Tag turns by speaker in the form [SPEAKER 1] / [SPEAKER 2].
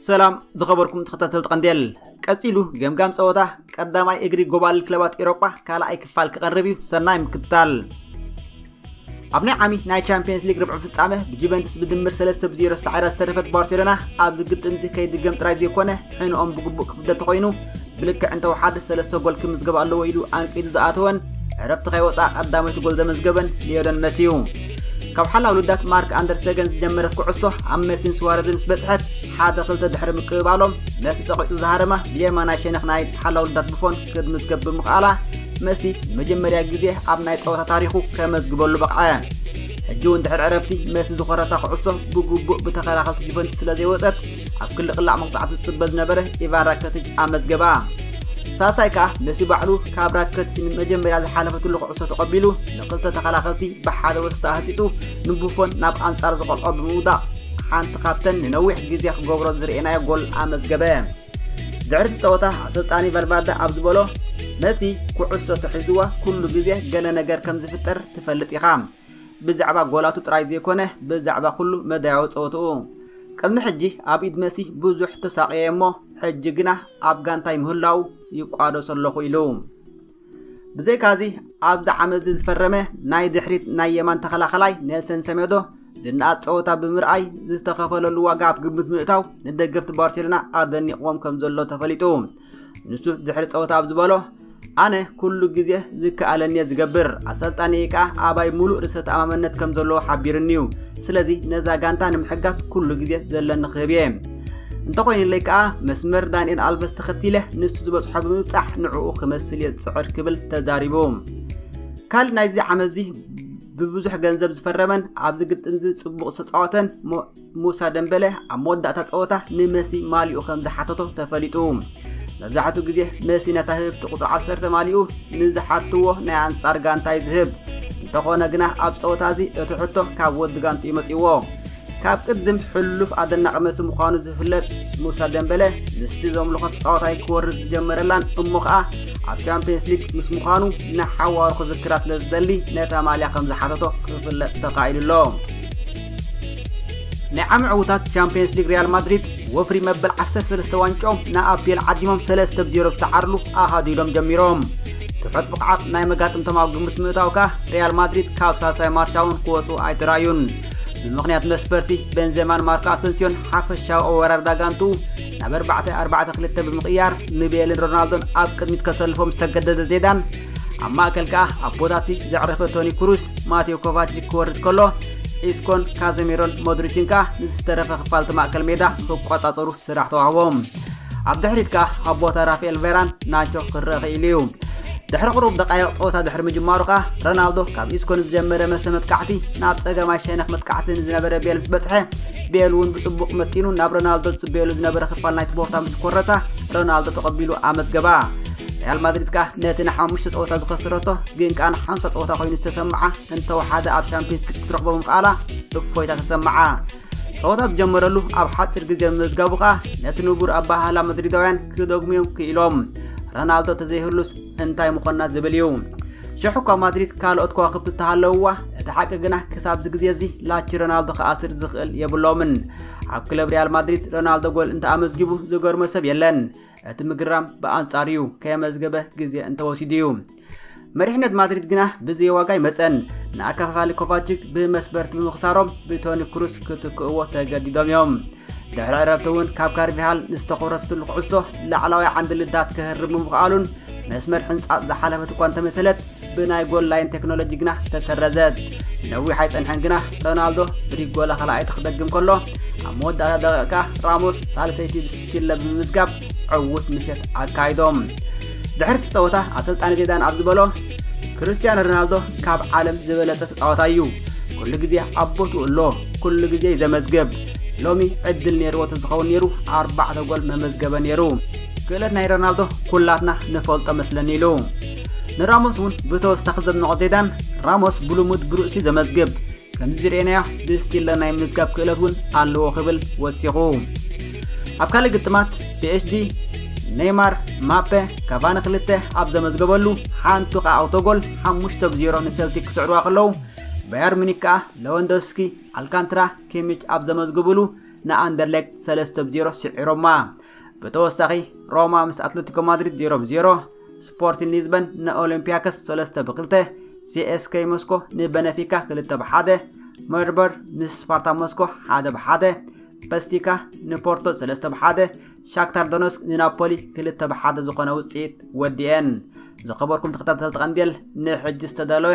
[SPEAKER 1] ሰላም ዝኸበርኩም ተኸታተልቲ ቀንዴል ቀፂሉ ገምጋም ፀወታ ቀዳማይ እግሪ ጎባልል ክለባት ኤሮጳ ካልኣይ ክፋል ክቐርብ እዩ ሰናይ ምክትታል ኣብ ናይ ዓሚ ናይ ቻምፒየንስ ሊግ ርብዒ ፍጻመ ብጁቨንትስ ብድምር ሰለስተ ብዜሮ ሳዒራ ዝተረፈት ባርሴሎና ኣብዚ ግጥምዚ ከይድገም ጥራይ ዘይኮነ ሕንኦም ብግቡእ ክፍደ ተኾይኑ ብልክዕ እንተወሓደ ሰለስተ ጎል ክምዝገብ ኣለዎ ኢሉ ኣንቂዱ ዝኣተወን ዕረፍቲ ከይወፅኣ ቀዳመይቲ ጎል ዘመዝገበን ሊዮነል መሲ እዩ ካብ ሓላ ውልዳት ማርክ ኣንደርሰገን ዝጀመረት ኩዕሶ ኣብ መሲን ስዋረዝን ምስ በፅሐት ሓደ ክልተ ድሕሪ ምቅብባሎም መሲ ፀቂጡ ዝሃረማ ብየማናይ ሸነኽ ናይ ሓላ ውልዳት ብፎን ክትምዝገብ ብምኽኣላ መሲ መጀመርያ ግዜ ኣብ ናይ ጸወታ ታሪኹ ከመዝግበሉ በቕዐ ሕጂ እውን ድሕሪ ዕረፍቲ መሲ ዝኾረታ ኩዕሶ ብግቡእ ብተኸላኸልቲ ጁቨንቱስ ስለ ዘይወፀት ኣብ ክሊ ቅላዕ መቕፃዕቲ ዝፅበ ዝነበረ ኢቫን ራከቲጅ ኣመዝገባ ሳሳይ ከዓ መሲ ባዕሉ ካብ ራከቲጅ ንመጀመርያ ዝሓለፈትሉ ኩዕሶ ተቐቢሉ ንክልተ ተኸላኸልቲ ብሓደ ወስታ ኣህፂፁ ንቡፎን ናብ ኣንጻር ዝቆልዖ ብምውዳቕ ሓንቲ ካብተን ንነዊሕ ግዜ ክገብሮ ዝርኤናዮ ጎል ኣመዝገበ ድሕሪ እቲ ጸወታ ኣሰልጣኒ ቫልቫርደ ኣብ ዝበሎ መሲ ኩዕሶ ተሒዝዋ ኩሉ ግዜ ገለ ነገር ከም ዝፍጠር ትፈልጥ ኢኻ ብዛዕባ ጎላቱ ጥራይ ዘይኮነ ብዛዕባ ኩሉ መዳያዊ ጸወትኡ ቅድሚ ሕጂ ኣብ ኢድ መሲ ብዙሕ ተሳቕየ እሞ ሕጂ ግና ኣብ ጋንታይ ምህላው ይቋደሶ ኣለኹ ኢሉ። ብዘይካዚ ኣብዚ ዓመትዚ ዝፈረመ ናይ ድሕሪት ናይ የማን ተኸላኸላይ ኔልሰን ሰሜዶ ዝነኣድ ፀወታ ብምርኣይ ዝተኸፈለሉ ዋጋ ኣብ ግምት ምእታው ንደገፍቲ ባርሴሎና ኣደኒቕዎም ከም ዘሎ ተፈሊጡ ንሱ ድሕሪ ፀወታ ኣብ ዝበሎ ኣነ ኩሉ ግዜ ዝከኣለኒ እየ ዝገብር ኣሰልጣኒ ከዓ ኣባይ ሙሉእ ርእሰ ተኣማመነት ከም ዘለዎ ሓቢርኒ እዩ ስለዚ ነዛ ጋንታ ንምሕጋዝ ኩሉ ግዜ ዘለኒ ክህብ እየ እንተኾይኑለይ ከኣ መስመር ዳንኤል ኣልቨስ ተኸቲለ ንሱ ዝበጽሖ ብምብጻሕ ንዕኡ ክመስል እየ ዝጽዕር ክብል ተዛሪቡ ካልእ ናይዚ ዓመትዚ ብብዙሕ ገንዘብ ዝፈረመን ኣብዚ ግጥምዚ ጽቡቕ ዝተጻወተን ሙሳ ደምበለ ኣብ መወዳእታ ጸወታ ንመሲ ማሊኡ ከም ዝሓተቶ ተፈሊጡ መብዛሕትኡ ግዜ መሲ ነታ ህብብቲ ቁፅሪ 10 ማሊኡ ንዝሓትዎ ናይ ኣንጻር ጋንታ እዩ ዝህብ እንተኾነ ግና ኣብ ጸወታ እዚ እቲ ሕቶ ካብ ወዲ ጋንቱ እዩ መፅዎ ካብ ቅድም ሕሉፍ ኣደናቂ መሲ ምዃኑ ዝፍለጥ ሙሳ ደምበለ ምስቲ ዘምልኾ ተጻዋታይ ክወርድ ዝጀመረላን እሞ ከኣ ኣብ ቻምፕየንስ ሊግ ምስ ምዃኑ ንሓዋሩ ክዝክራ ስለ ዝደሊ ነታ ማልያ ከም ዝሓተቶ ክፍለጥ ተኻኢሉ ኣሎ ናይ ዓሚ ዕውታት ቻምፕየንስ ሊግ ሪያል ማድሪድ ወፍሪ መበል 13 ዋንጮም ንኣፒኤል ዓዲሞም 3 ብ 0 ዝተዓርሉ ኣሃዱ ኢሎም ጀሚሮም ትሑት ብቕዓት ናይ መጋጥምቶም ኣብ ግምት ምእታው ከኣ ሪያል ማድሪድ ካብ ሳልሳይ ማርሻውን ክወፁ ኣይተራእዩን ብምኽንያት መስበርቲ ቤንዜማን ማርኮ ኣሰንሲዮን ሓፈሻዊ ኣወራርዳ ጋንቱ ናብ 4-4-2 ብምቕያር ንቤልን ሮናልዶን ኣብ ቅድሚት ከሰልፎም ዝተገደደ ዜዳን ኣብ ማእከል ከኣ ኣብ ቦታቲ ዘዕረፈ ቶኒ ክሩስ ማቴዮ ኮቫችክ ክወርድ ከሎ ኢስኮን ካዘሚሮን ሞድሪችን ከኣ ንዝተረፈ ክፋልቲ ማእከል ሜዳ ክቆጻጸሩ ስራሕ ተዋህቦም ኣብ ድሕሪት ከኣ ኣብ ቦታ ራፍኤል ቬራን ናቾ ክረአ ክኢሉ እዩ። ድሕሪ ቅሩብ ደቃይቕ ጸወታ ድሕሪ ምጅማሩ ከኣ ሮናልዶ ካብ ኢስኮ ንዝጀመረ መሰ መጥቃዕቲ ናብ ጸገማይ ሸነኽ መጥቃዕቲ ንዝነበረ ቤል ምስ በጽሐ ቤል እውን ብጽቡቕ መጢኑ ናብ ሮናልዶ ዝጽበየሉ ዝነበረ ክፋል ናይቲ ቦታ ምስ ኮረሳ ሮናልዶ ተቐቢሉ ኣመዝገባ ሪያል ማድሪድ ከኣ ነቲ ንሓሙሽተ ጸወታ ዝኸስረቶ ግን ከኣ ንሓምሳ ጸወታ ኮይኑ ዝተሰምዓ እንተወሓደ ኣብ ሻምፒዮንስ ክትረኽቦ ምኽኣላ እፎይታ ተሰምዓ ጸወታ ዝጀመረሉ ኣብ ሓጺር ግዜ ምምዝጋቡ ከኣ ነቲ ንቡር ኣበሃህላ መድሪዳውያን ክደግሙዮም ክኢሎም። ረናልዶ ተዘይህሉስ እንታይ ምኾና ዝብል እዩ። ሽሕ እኳ ማድሪድ ካልኦት ከዋክብቲ እተሃለውዋ እቲ ሓቂ ግና ክሳብዚ ግዜ እዚ ላቺ ሮናልዶ ክኣስር ዝኽእል የብሎምን። ኣብ ክለብ ሪያል ማድሪድ ሮናልዶ ጎል እንተኣመዝጊቡ ዝገርሞ ሰብ የለን። እቲ ምግራም ብኣንጻር እዩ ከየመዝገበ ግዜ እንተወሲዱ እዩ። መሪሕነት ማድሪድ ግና ብዘይ ዋጋ ይመፀን ንኣከፋፋሊ ኮቫችክ ብመስበርቲ ብምኽሳሮም ብቶኒ ክሩስ ክትክእዎ ተገዲዶም እዮም ድሕሪ ዕረፍቲ እውን ካብ ካርቪሃል ንዝተኾረሰትሉ ኩዕሶ ላዕላዊ ዓንዲ ልዳት ክህርብ ምምኽኣሉን መስመር ሕንፃፅ ዝሓለፈት እኳ እንተመሰለት ብናይ ጎል ላይን ቴክኖሎጂ ግና ተሰረዘት ነዊሕ ኣይፀንሐን ግና ሮናልዶ ብሪጎላ ካልኣይቲ ክደግም ከሎ ኣብ መወዳእታ ደቂቕ ከዓ ራሞስ ሳልሰይቲ ቺለ ብምምዝጋብ ዕዉት ምሸት ኣካይዶም ድሕሪ እቲ ፀወታ ኣሰልጣኒ ዜዳን ኣብ ዝበሎ ክርስትያኖ ሮናልዶ ካብ ዓለም ዝበለፀ ተፃወታ እዩ ኩሉ ግዜ ኣብ ቦትኡ ኣሎ ኩሉ ግዜ እዩ ዘመዝግብ ሎሚ ዕድል ነይርዎ ተዝኸውን ነይሩ ኣርባዕተ ጎል መመዝገበ ነይሩ ክእለት ናይ ሮናልዶ ኩላትና ንፈልጦ መስለኒ ኢሉ ንራሞስ እውን ብተወሳኺ ዘድንቖ ዜዳን ራሞስ ብልሙድ ብርእሲ ዘመዝግብ ከምዚ ዝርኤናዮ ብስቲለ ናይ ምዝጋብ ክእለት እውን ኣለዎ ክብል ወሲኹ ኣብ ካልእ ግጥማት ፒኤስጂ ኔይማር ማፔ ካቫኒ ክልተ ኣብ ዘመዝገበሉ ሓንቱ ከዓ ኣውቶጎል ሓሙሽተ ብዜሮ ንሰልቲክ ክስዕርዋ ከለዉ ባየር ሚኒክ ከዓ ለወንዶስኪ ኣልካንትራ ኪሚች ኣብ ዘመዝግብሉ ንኣንደርሌክት ሰለስተ ብዜሮ ስዒሮማ ብተወሳኺ ሮማ ምስ ኣትለቲኮ ማድሪድ ዜሮ ብዜሮ ስፖርቲን ሊዝበን ንኦሎምፒያከስ ሰለስተ ብክልተ፣ ሲኤስከይ ሞስኮ ንበነፊካ ክልተ ብሓደ፣ መርበር ምስ ስፓርታ ሞስኮ ሓደ ብሓደ፣ በስቲካ ንፖርቶ ሰለስተ ብሓደ፣ ሻክታር ዶኖስክ ንናፖሊ ክልተ ብሓደ ዝኾነ ውፅኢት ወዲኤን። ዝኸበርኩም ተኸታተልቲ ቀንዴል ንሕጂ ዝተዳለወ